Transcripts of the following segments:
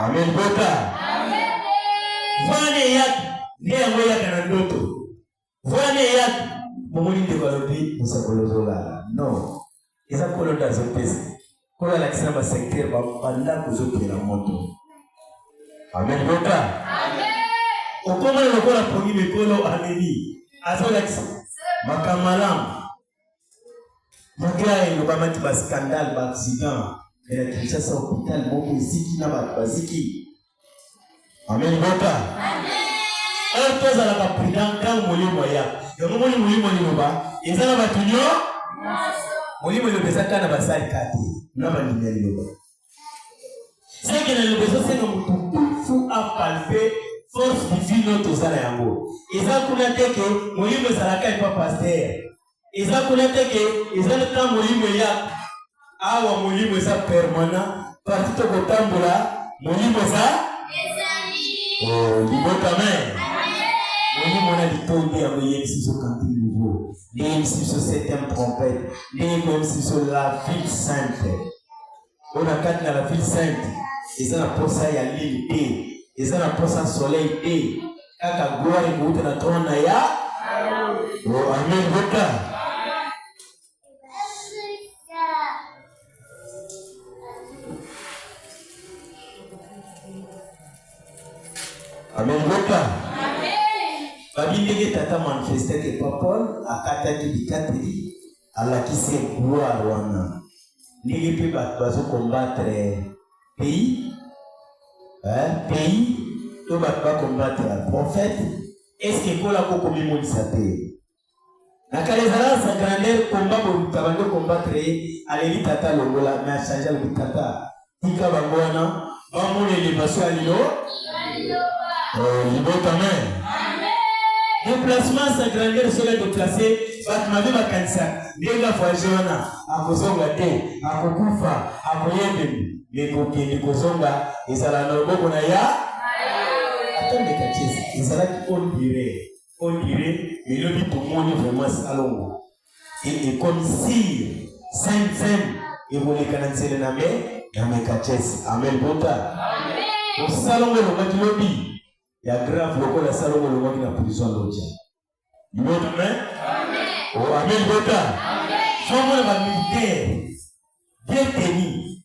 Amen. Boka. Vane yaki nde yango yaka na ndoto. Vane yaki momoni ndeko alobi mosakolozola no eza kolo nde azopesa kolo alakisa na basecteur bandako ozokela moto amen boka okomona lokola pongi mikolo amemi azolakisa makambo malamu Mugaya elobamaki ba scandale ba accident ya Kinshasa hopital moko eziki na bato baziki. Amen boka. Or tozalaka prudent ntango molimo ya yango moni molimo liloba eza na bato nyo molimo liloba eza kaka na basali kati na bandimi ya liloba seke na lobo ezosenga moto tufu apalpe force divine oyo toza na yango eza kuna te ke molimo ezalaka epa paster eza kuna te ke eza nta molimo eya awa molimo eza permanent parti tokotambola molimo eza libotame molimo na litombi yango eyebisi biso kanti nouveau nde eyebisi biso septième trompette nde ekoyebisi biso la ville sainte oyo na kati na la ville sainte eza na posa ya lili te eza na posa soleil te kaka gloire ekouta na trone na ya oh, amen boka amen boka babi ndenge tata manifestaki epa paul akataki bikateli Alakisi ye gloire wana ndenge mpe bato bazo combattre pays eh, pays to bato ba combattre ya prophète eske ekola ko komimonisa te na kala ezalaka sa grandeur komba boluta bando combattre ye aleli tata longola mais achange alobi tata tika bango wana bamona elevasi ya lilo oh, libota me déplacement sa grandeur soki adeplace bato mabe bakanisa ndenge avoyage wana akozonga te akokufa akoyembemi me kokende kozonga ezala na loboko na ya ata ndeka tiesi ezalaki ondire ondire elobi tomoni vraiment salongo e, ekomi sire seme seme ekoleka na nzela na me na mekachese amen bota osalongo elongaki lobi ya grave lokola salongo elongaki na prison loja lord amen o oh, amen bota songo na bamilitaire bien teni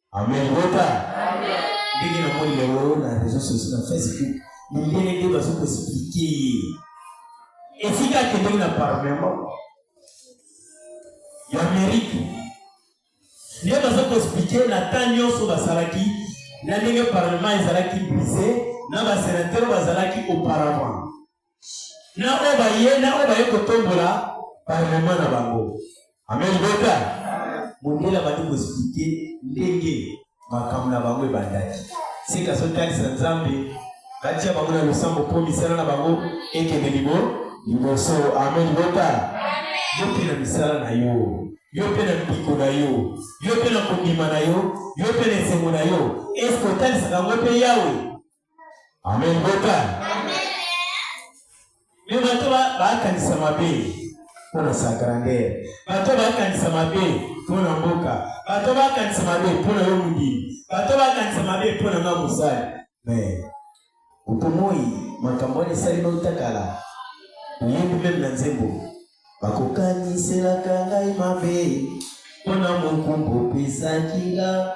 Amen. Bota. Amen. Ndenge na moni lelo na réseaux sociaux na Facebook, mindele nde bazo ko expliquer ye. Esika akendeki na parlement ya Amérique nde bazo ko expliquer na temps nyonso basalaki na ndenge parlement ezalaki brise na basenateur bazalaki auparavant na oyo baye na oyo baye kotombola parlement na bango amen beta mondele abandi koexplike ndenge makambo na bango ebandaki sika sotalisa nzambe batia bango na losambo mpo misala na bango ekende libo liboso amen beta yo mpe na misala na yo yo mpe na mpiko na yo yo mpe na kondima na yo yo mpe na esengo na yo eske otalisaka yango mpe yawe amen mboka me bato bakanisa mabe mpo na sa grandeur bato bakanisa mabe mpo na mboka bato bakanisa mabe mpo na yo mondimi bato bakanisa mabe mpo na nga mosali me otomoi makambo wana esali notakala oyebi meme na nzembo bakokaniselaka ngai mabe mpo na mokumba opesaki nga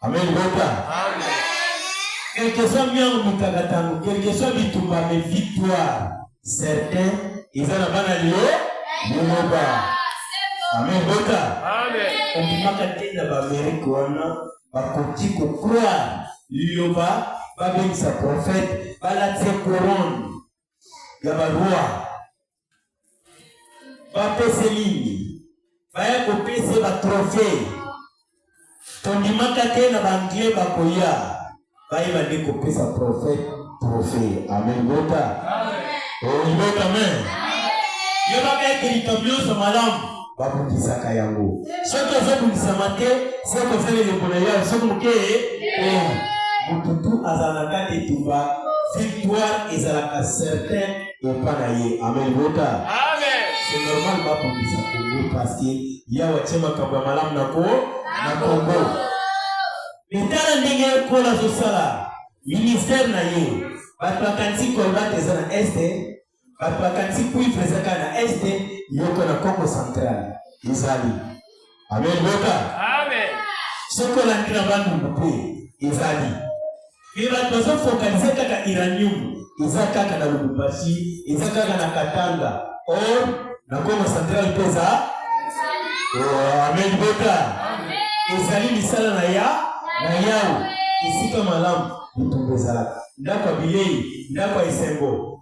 Amen bota. Amen. Quel que soit miango mikakatano, quel que soit bitumba mais victoire certain eza na bana lio liloba. Amen bota. Amen. Omimaka te na baamerike wana bakoki kokroire liloba babengisa profete balatisa korone ya baroi bapese nini baya kopese batrofe tondimaka te na baanglais bakoya bayeba nde kopesa trofe trofe amen bota oyibota amen yebaka ete likambo nyonso malamu babundisaka yango soki ozobundisama te soki osali eleko na yo soki moke eh, motutu azala na kati etumba victoire ezalaka certain Epa na ye. Amen. Bota. Amen. C'est normal ba bongisa Congo parce que yawa tie makambo ya malamu na ko na Congo. Etala ndenge Paul azosala ministère na ye. Bato bakanisi Colbert eza na Est, bato bakanisi cuivre eza kaka na Est, yoko na Congo central ezali. amen boka amen soki olandi na bandundu mpe ezali mpe bato bazofokalize kaka iranium eza kaka na lubumbashi eza kaka na katanga or na kongo central mpe eza oh, amen boka ezali misala na ya na yawe esika malamu bitumba ezalaka ndako ya bilei ndako ya esengo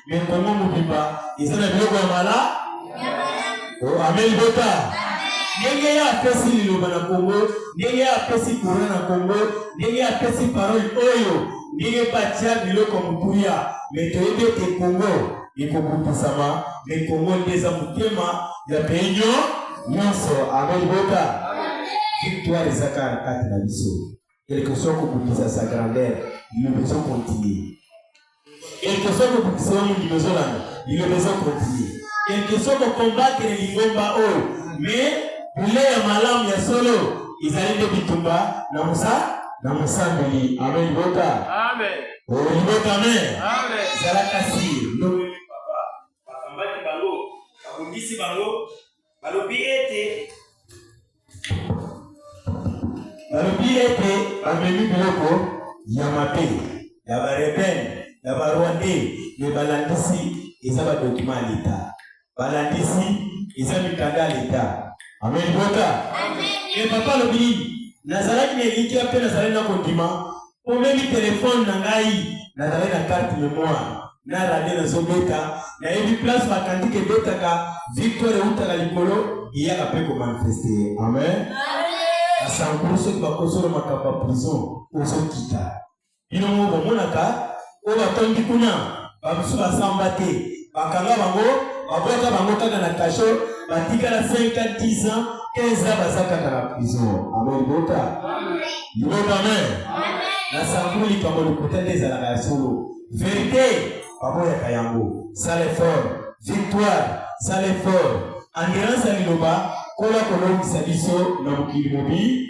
Mais Congo mobimba eza na biloko ya mala. Oh, amen bota. ndenge ye apesi liloba na kongo ndenge ye apesi kura na kongo ndenge ye apesi parole oyo ndenge batya biloko motuya me toyebi ete kongo ekokutisama me kongo nde eza motema ya peinio nyonso amen bota victoire ezaka na kati na biso quelque soit kobundisa sa grandeur liloba ezo continue quelque soit kobundisa yo mondimi ezolanda liloba ezo continue quelque soit kokombatre lingomba oyo mais bule ya malamu ya solo ezali nde bitumba na mosa na mosambeli amen libota amen libota amen ezalaka sire ndenge papa bakambaki bango babundisi bango balobi ete balobi ete bamemi biloko ya mabe ya barebele ya barwande me balandisi eza badokima ya leta balandisi eza mikanda ya leta amen bota e papa alobi nini nazalaki na elikya mpe nazalaki na kondima Omemi telefone na ngai, nazali na carte memoire na radio nazobeta, nayebi place bakantike ebetaka, victoire eutaka likolo eyaka mpe komanifeste. Amen. Asankuru soki bakosolo makambo ya prison ozokita bino moko bomonaka Oyo batondi kuna, bamosusu basamba te, bakanga bango, babwaka bango kaka na kasho, batikala 5 ans, 10 ans, 15 ans baza kaka na prison. Amen libota. Libota amen. Na sango likambo lokuta nde ezalaka ya solo. Verite baboyaka yango. Sala effort. Victoire, sala effort. Endurance ya liloba kola kolongisa biso na mokili mobimba.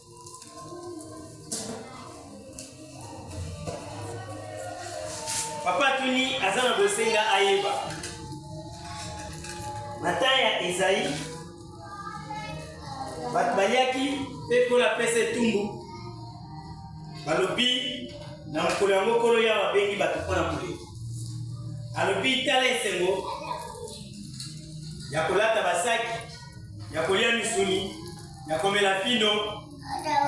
papa tuni aza na bosenga ayeba na ntan ya ezai bato baliaki mpe nkolo apesa etumbu balobi na mokolo yango nkolo yawa abengi bato mpo na koleki alobi tala esengo ya kolata basaki ya kolia misuni ya komela vino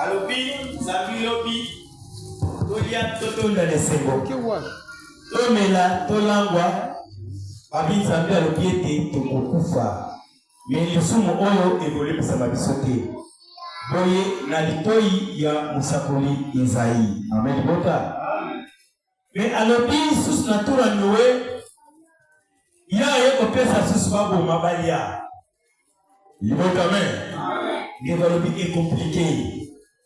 alobi zambi lobi tolya totonda na esengo tomela tolangwa babi nzambe alobi ete tokokufa me lisumu oyo ekolemisama biso te boye na litoi ya mosakoli ezai amen bota Mais alobi lisusu na tour ya Noe, ye aye kopesa susu baboma balia. Libota amen. Ndeko alobi ekomplike.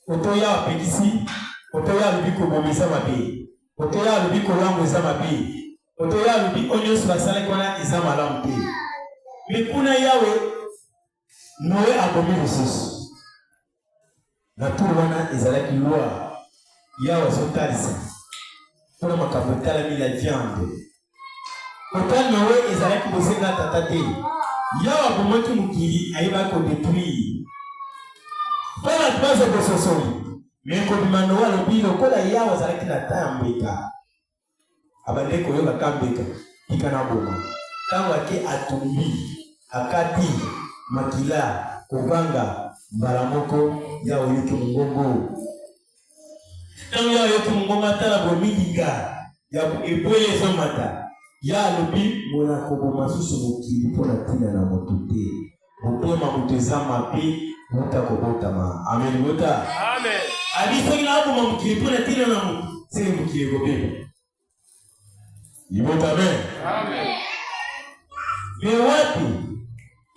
Oto ya apekisi, oto ya alobi kobomisa mabe, oto ya alobi kolango eza mabe, oto ya alobi oyo nyonso basalaki wana eza malamu te. Mais kuna yawe Noe abomi lisusu. Na tour wana ezalaki loi yawe azotalisa mpona makambo etalami la viande. Kota Noe ezalaki bosenga ya tata te. Yawe abomaki mokili ayebaki kodetruire mpo bato bazo bososoli me kobima Noe alobi lokola yawe azalaki na ta ya mbeka abandaki koyoka kambeka tika na boma ntango ake atumbi akati makila kobanga mbala moko ya oyoki mongongo ntango ya oyoki mongongo atala bomilinga ya ebwele ezomata ya alobi mona koboma susu mokili mpo na ntina na moto te Motema moto eza mabe uta kobotama. Amen bota. Amen. Abi soki nakoma mokili mpo na ntina na moto, seke mokili ekobeba. Libota amen. Amen. Me wapi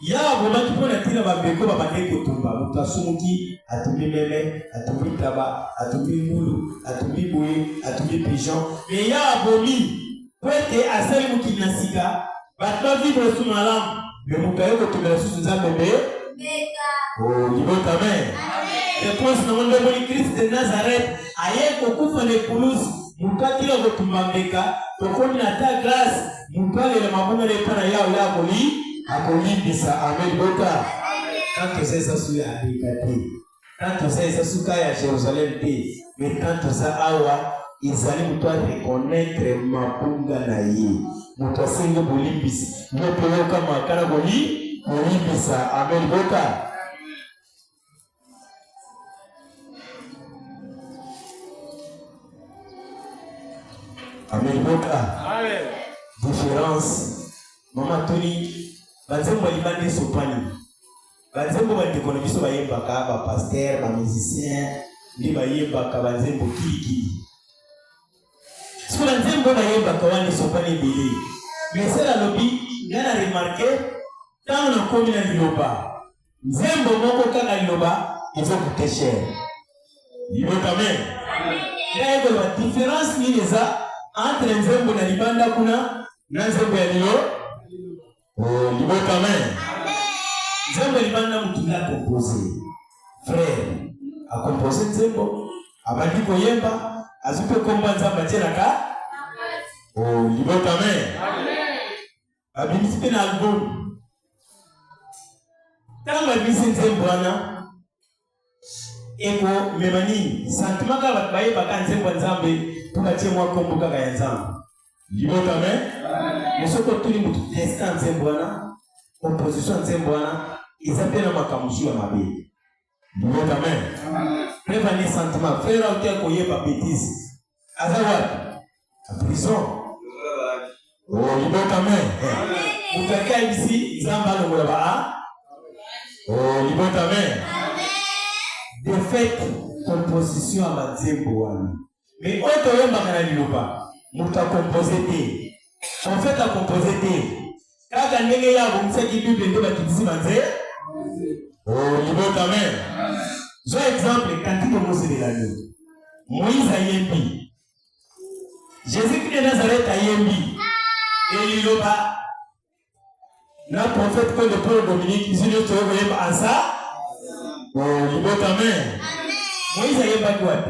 ya abomaki mpo na ntina bambeko babandaki kotumba moto asumuki atumbi meme atumbi ntaba atumbi ngulu atumbi boye atumbi pigeon me ya abomi mpo ete asali mokili na sika bato ba vivre esu malamu me moto aye kokende lisusu nzambe mbe libota me reponse nango nde omoni krist de nazareth aye kokufa na ekulusi moto akila kotumba mbeka tokomi na ta grâce moto alela mabonga na epa na yao ya akoli akolimbisa ame libota kaka esesa suya abika te Tant toza eza suka ya Jerusalem te, mais tant toza awa ezali moto a reconnaître mabunga na ye, moto asengi bolimbisi. Yo mpe yoka makala boli kolimbisa. Amen boka Amen boka. Amen. Différence. Mama Tony, banzembo libandi sopani. banzembo bandeko na biso bayembaka bapaster bamusicien nde bayembaka banzembo kilikili soki banzembo bayembaka wana esopani ebele mesel alobi nga na remarke ntango nakomi na liloba nzembo moko kaka liloba ezokute cher liloba me ngai koloba difference nini eza entre nzembo na libanda kuna na nzembo ya lilo Oh, libota amen. Nzembo libandi na motu ya kompose. Frère akompose nzembo, abandi koyemba, azwi mpe komba Nzambe atyelaka. Oh, libota amen. Babimisi mpe na album. Ntango abimisi nzembo wana eko mema nini sentiment kaka bato bayebaka nzembo ya nzambe mpo batie mwa nkombo kaka ya nzambe libota me mosoki otuli motu destin ya nzembo wana opposition ya nzembo wana eza mpe na makambo mosusu ya mabe libota me mpe bani sentiment frere ote koyeba betise aza wapi na prison oh, libota me moto akaibisi nzambe alongola ba a oh, libota me defete composition ya banzembo wana me oyo toyembaka na liloba moto akompose te profete akompose te Kaka ndenge ye abongisaki Bible nde bakitisi banze. Oh, libota amen. Zwa exemple kantike moselela yo. Moïse ayembi. Jésus-Christ de Nazareth ayembi. Eliloba na prophète que le Paul Dominique biso nyonso oyo koyemba ansa. Oh, libota amen. Moïse ayembaki wapi?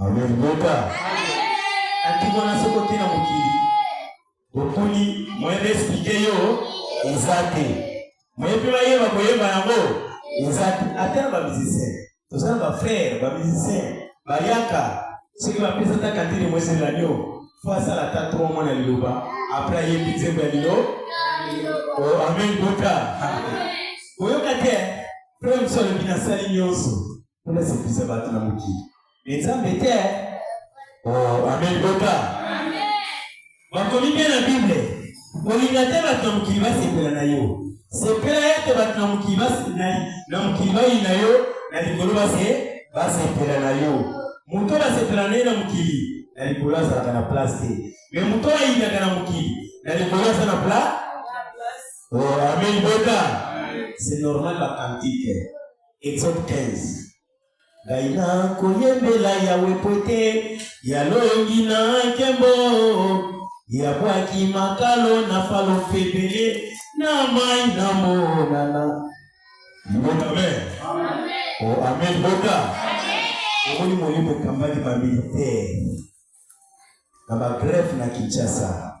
Amen. Mboka. Atiko na soko te na mokili. Bokuni moyen d'expliquer yo eza te. Moyen mpe bayeba koyemba yango eza te. Ata na bamusicien. Toza na bafrère, bamusicien, bayaka. Soki bapesa ata kantine moesela nio. Fo asala ata tro mwana liloba. Après ayembi nzembo ya lilo. Oh, amen. Mboka. Oyoka te. Frère mosu alobi nasali nyonso. mpo nasepisa bato na mokili me nzambe te oh, amen boka bakomi mpe na bible kolinga te bato na mokili basepela na yo sepela ete bato na mokili na mokili bayi na yo na likolo base basepela na yo moto oyo basepela na ye na mokili na likolo azalaka na place te me moto oyo ayinaka na mokili na likolo aza na place oh, amen boka c'est normal bakantike Exode 15 ngai nakoyembela yawe mpo te yalongi na nkembo yabwaki makalo na falo mpe ebele na mai na monana libota me o oh, ame libota omoni molimo ekambaki bamilitaire na bagrefe na kinshasa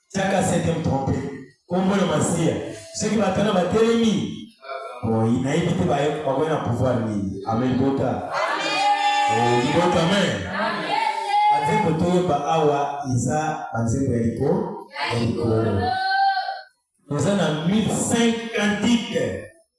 tiaka septième trompe kombo na masiya soki batana batelemi boyi nayebi te bakoya na pouvoir nini amen bota libota oh, amen banzembo toyemba awa eza banzembo ya likolo ya likolo toza na 1005 cantique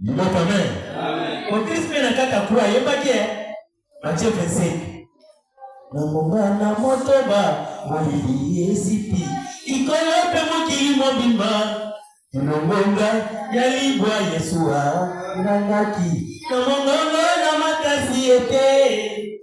Mboka me. Motis mpe na kaka kura ayembaki eh. Mathieu Vincent. Na monga na motoba molili esipi ikolo mpe mokili mobimba elongonga ya libwa Yesu angangaki na mongongo na makasi ete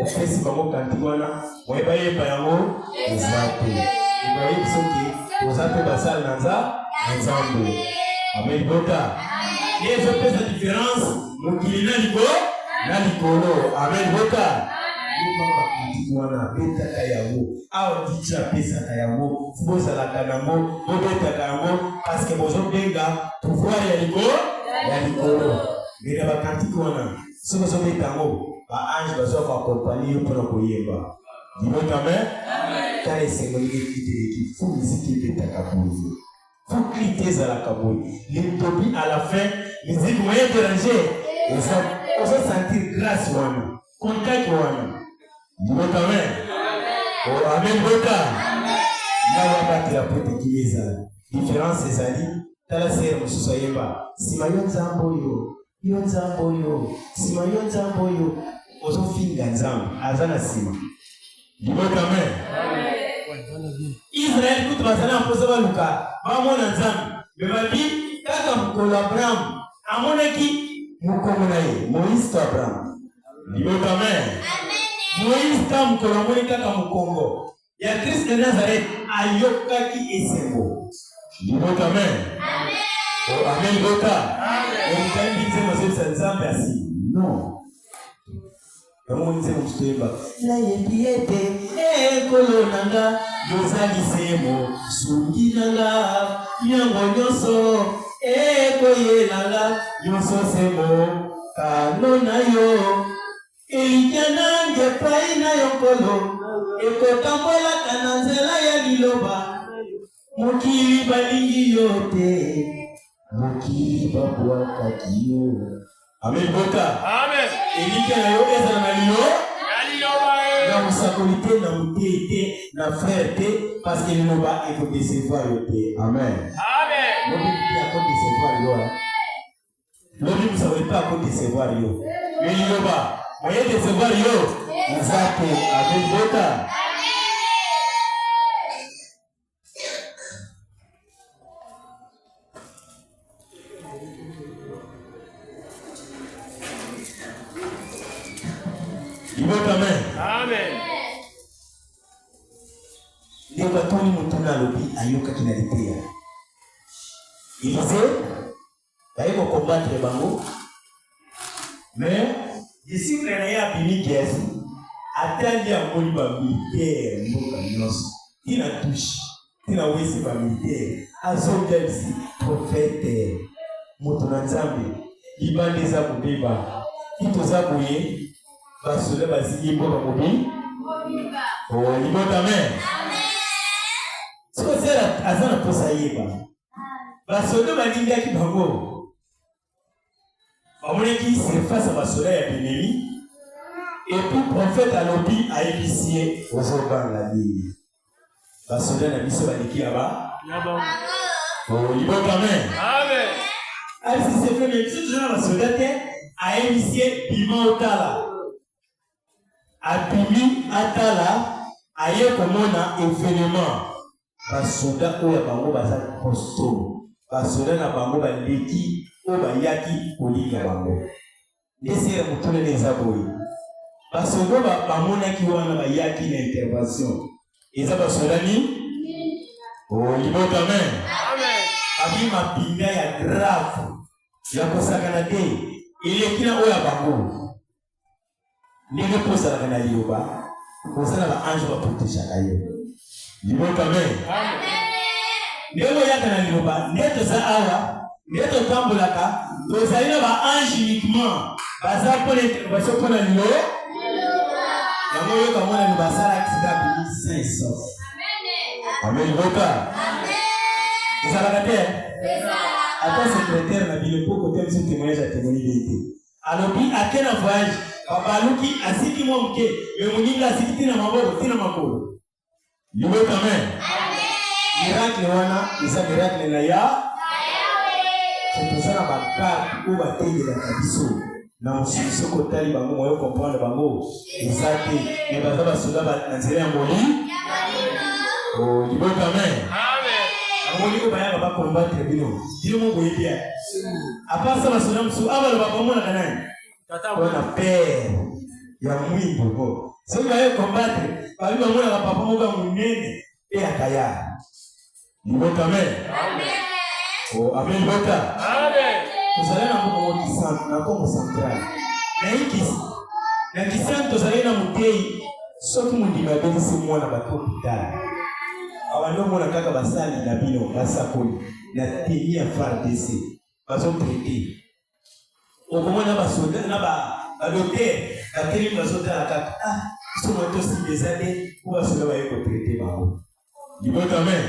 opesi bango kantiki wana moye bayemba yango eza te ebayebi soki oza mpe basali na nza na nzambe amen bota ye ezopesa diference mokili na libo na likolo amen bota bakantiki wana abetaka yango awa diji apesaka yango bozalaka nango bobetaka yango parceke bozobenga pouvoir ya likolo ya likolo mbela bakantiki wana soki ozobeta yango ba ange baza koakompani yo mpona koyemba libota amen tala esengo ndenge klite eleki fo miziki ebetaka boye fo klite ezalaka boye litobi à la fin miziki moye derange oza sentir grâce wana contact wana libota amen oh, amen bota yawa batela mpo tekili ezala différence ezali tala sere mosusu ayemba nsima yo nzambe oyo yo nzambe oyo nsima yo nzambe oyo ozofinga nzambe aza na nsima libota amen israel kutu bazali na mposa baluka bamona nzambe me babi kaka mokolo abraham amonaki mokongo na ye moïse to abraham libota amen moïse ta mokolo amoni kaka mokongo ya Christ de Nazareth ayokaki esengo. Libota amen. Amen. Oh, amen libota. Amen. Omutani bize mazebisa Nzambe asi. Non. Yango nze mostemba. Nayebi ete ekolo na nga yozali semo sungi na nga yango nyonso ekoyela nga nyonso semo kano na yo Elikya na ngai epai na yo, Nkolo, ekotambolaka na nzela ya liloba na yo. Mokili balingi yo te, mokili babwakaki yo. Amen, bota. Amen. Elikya na yo ezala na liloba na mosakoli te na moteyi te na frere te parceke liloba ekodecevoir yo te amen amen mokoki te akodecevoir yo lobi mosako epa ako decevoir yo liloba oye decevoir yo eza te amebota baye ko combattre bango mais disciple na ye abimi kiasi atali amoni bamilitaire mboka nyonso tina tushe tina wese bamilitaire azongelisi profete moto na nzambe libanda eza kobeba ti toza boye basoda bazili mboka mobi oh, libota amen soki aza na mposa yeba basoda balingaki bango bamonaki surface ya basoda ya bileli epuis profete alobi ayebisi ye ozobanga nini basoda na biso baleki ya ba libota me asisefeme biso toza na basoda te ayebisi ye bima otala abimi atala aye komona evenement basoda oyo ya bango baza liboso basoda na bango baleki oyo bayaki kolinga bango ndese ya motulele eza boye basoda bamonaki wana bayaki na intervention eza basoda nini oh, libota me abi mapinga ya grave ya kosakana te eleki na oyo ya bango ndenge mpo ozalaka na liloba oza na baange baprotejaka yo liboko amen ndenge oyaka na liloba nde toza awa nde totambolaka tozali na baange uniquement baza baso mpo na lilo yango oyoka mwana liba asala aksida bimi 500 amen libota ezalaka te ata sekretere na bino mpo kotemisa temoignage ya temoni bete alobi ake na voyage babaluki asiki mwa moke me moninga asiki ntina maboko ntina makolo libota me miracle wana eza miracle na ya toza na bakarte oyo batendelaka biso na mosili soki otali bango moyo comprendre bango eza te me baza basoda na nzela ya moli oh, libota me yango ndiko bayaka bakombatre bino bino mo boyebi Apa sa basonga mosusu awa baloba komonaka nani? Wana pere ya mwindo ko soki baye kombatre babi bamonaka papa moko ya monene mpe ya kaya libota me ame libota tozali na mokoko kisantu na kongo central naikisi na kisantu tozali na motei soki mondimi abelisi mwana bato hopitale awa nde omona kaka basali na bino basakoli na teni ya fardc bazoprete okomona basoda na badoter batelemi bazotala kaka ah, somo tosimba eza te mpo basoda baye koprete bango libota amen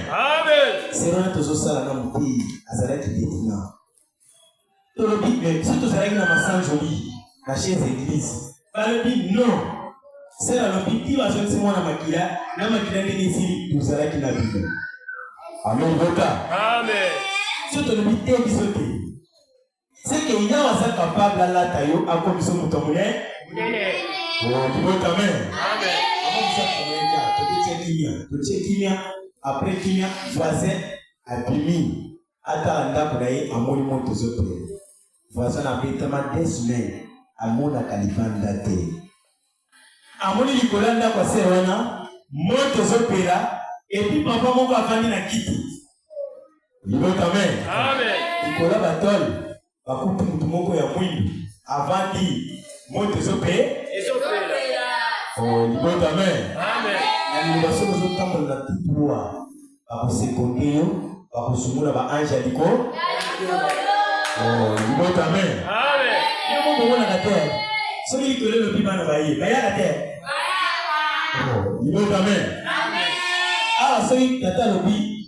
serona tozosala na moteyi azalaki detina tolobi me biso tozalaki na masanjoli na chez eglise balobi non se balobi ti bazongisi mwana makila na makila ndenge esili tozalaki na bino amen boka amen so tolobi te biso te seke yawe aza kapable alata yo akomiso moto monene libota oh, amen totie kimia totie kimia après kimia voisin abimi atala ndako na ye amoni moto ezopela voisin abetama deux semaines amonaka libanda te amoni likolo ya ndako ase wana moto ezopela epi papa moko afandi na kiti libota me likolo batole bakuti motu moko ya mwindu avandi moto ezope ezopela oh, libota amen na liloba soki ozotambola na tutuwa bakosekonde yo bakosungola baange ya liko oh, libota amen yo moko omonaka te soki likolo elobi bana baye bayaka te libota oh, amen awa ah, soki tata alobi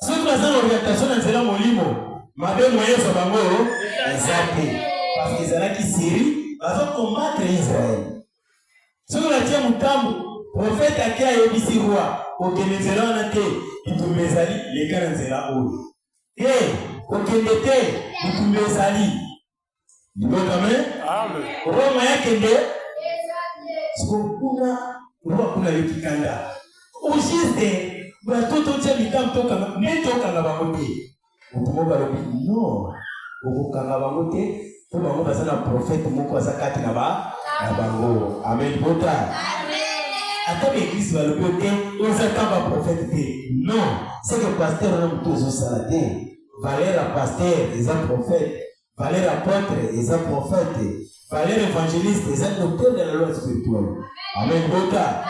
soki baza na orientation na nzela molimo mabe moye ezwa bango eza te parce que ezalaki siri bazo combattre israel soki natie motambo profete ake ayebisi roi kokende nzela wana te bitumba ezali leka na nzela oyo te kokende te bitumba ezali Mboka me. Amen. Roma yake nde. Sikokuna Roma kuna yo kikanda. Ojiste bato totya mitambo tokanga nde tokanga bango te. Moto moko alobi no okokanga bango te mpo bango baza na profete moko aza kati na ba na bango. Amen bota. Ata baeglise balobi yo te ozaka baprofete te. Non, seke pasteur na moto ozosala te. valeur ya pasteur eza prophète valeur ya apôtre eza prophète valeur évangéliste eza kotonda na loi spirituelle amen bota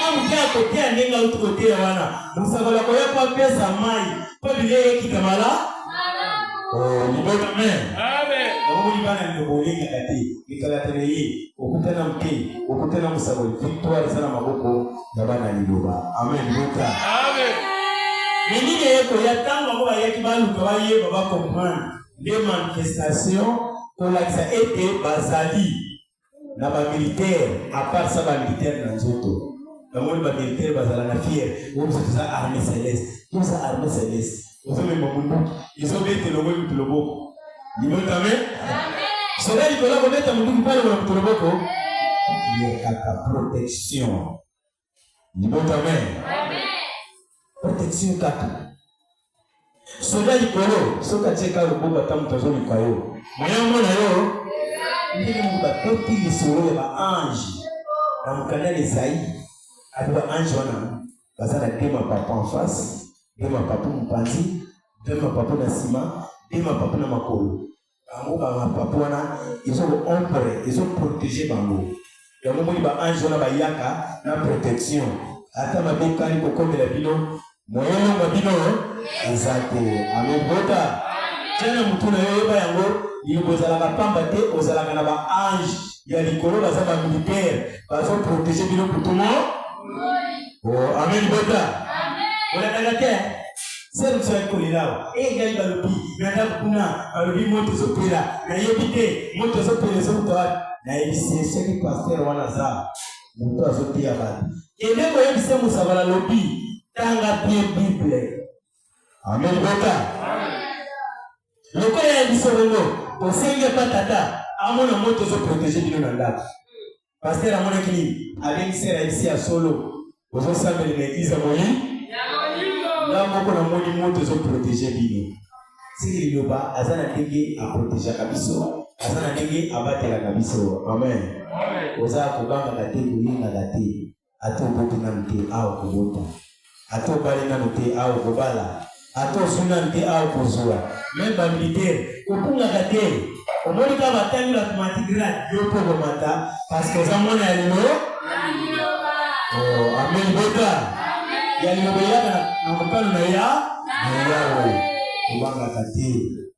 amoke akoteya ndenge auti koteya wana mosakoli akoya mpo apesa mai mpo bilia eyekita mala libota amen omoni bana ndeko olingaka te ekalaka na ye okutana mpe okutana mosakoli victoire eza na maboko ya bana liloba amen bota amen minini eye koya ntango yango bayaki baluka bayeba bacomprendre nde manifestation kolakisa ete bazali na bamilitaire apart sa bamilitaire na nzoto namoni bamilitaire bazala na fiere oyo biso toza arme celeste toza arme celeste ozolemba munduki ezobete longo mutu loboko libotame soda likolo akobeta munduki mpe alongola mutu loboko yekaka protection libotame protection kaka soda likolo soki atieka loboko ata moto azoluka yo moya omona yo ndenge moto batoti lisolo ya baange na mokanda na ezai ati baange wana baza na deux mapapu en face deux mapapu mopanzi deux mapapu na nsima deux mapapu na makolo bango bamapapu wana ezo ombre ezo protege bango yango moni baange wana bayaka na protection ata mabe ekali kokomela bino moyeno mwa bino eza te amebota tya na motu na yo yeba yango liloba ezalaka mpamba te ozalaka na baange ya likolo baza ba militaire bazo protéger bino butu mo oh, amen bota olandaka te sere mosu ayaki kolela awa e eh, ngai balobi na ndako kuna balobi moto ezopela nayebi te moto ezopela ezouta wapi nayebisi ye soki paster wana aza moto azoteya bato kende koyebisa mosabala lobi tanga bie bible amen bota lokola ya biso bongo tosengi epa tata amona moto ezoprotege bino na ndako paster amonaki nini abengisi raisi ya solo ozosambeli na eglize ya moyi nga moko namoni moto ezoprotege bino sili liloba aza na ndenge aprotejaka biso aza na ndenge abatelaka biso amen oza kobangaka te kolingaka te ata oboti nanu te awa okobota ata obali nanu te awa okobala ata ozwi nanu te awa okozwa meme bamilitaire kokungaka te omoni kaka batali bato matigrade yo mpo okomata parceke oza mwana ya lelo oh, amen bota ya liloba eyaka na mokano na ya na yawe kobangaka te